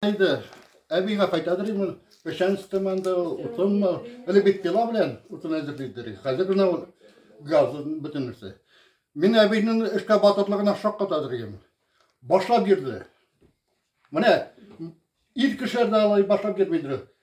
Әйдә, әбигә кайтадыр инде ул печән стыманды, утынмы, әле бит пила белән утын әзерлидер. Хәзер генә ул газ бөтен нәрсә. Мин әбинең эшкә батырлыгына шаккатадыр идем. Башлап йөрде. Менә ир кешеләр дә алай башлап йөрмидер.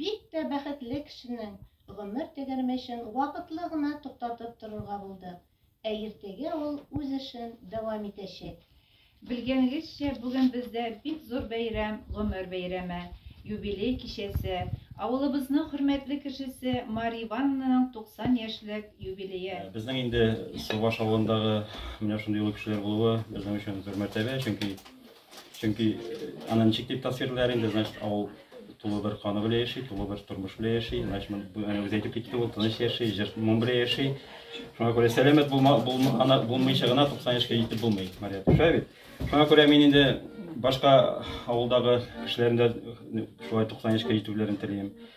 Бик тә бәхетле кешенең гомер тәгәрмәчен вакытлы гына туктатып торырга булдык, ә иртәгә ул үз эшен дәвам итәчәк. Белгәнегезчә, бүген бездә бик зур бәйрәм, гомер бәйрәме, юбилей кичәсе, авылыбызның хөрмәтле кешесе Мария Ивановнаның 90 яшьлек юбилее. Безнең инде Субаш авылындагы менә шундый олы кешеләр булуы безнең өчен зур мәртәбә, чөнки Чөнки аны ничек дип тасвирлар инде, значит, авыл тулы бер каны белән яши, тулы бер тормыш белән яши. Значит, үзе әйтеп китте, ул тыныч яши, җыр моң белән яши. Шуңа күрә сәламәт булма, булмагана, булмыйча гына 90 яшькә җитеп булмый, Мария Туша бит. Шуңа күрә мин инде башка авылдагы кешеләрдә шулай 90 яшькә җитүләрен телим.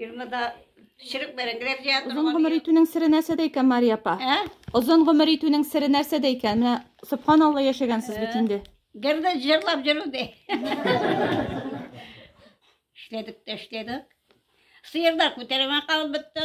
Фирмада пешереп бәрән грәфия Озын гомер итүнең сире нәрсәдә икән, Мария апа? Ә? Озын гомер итүнең сире нәрсәдә икән? Менә субханалла яшәгәнсез бит инде. Гердә җырлап җөрү дә. Эшләдек тә эшләдек. Сыерда күтәрмә калып бетте.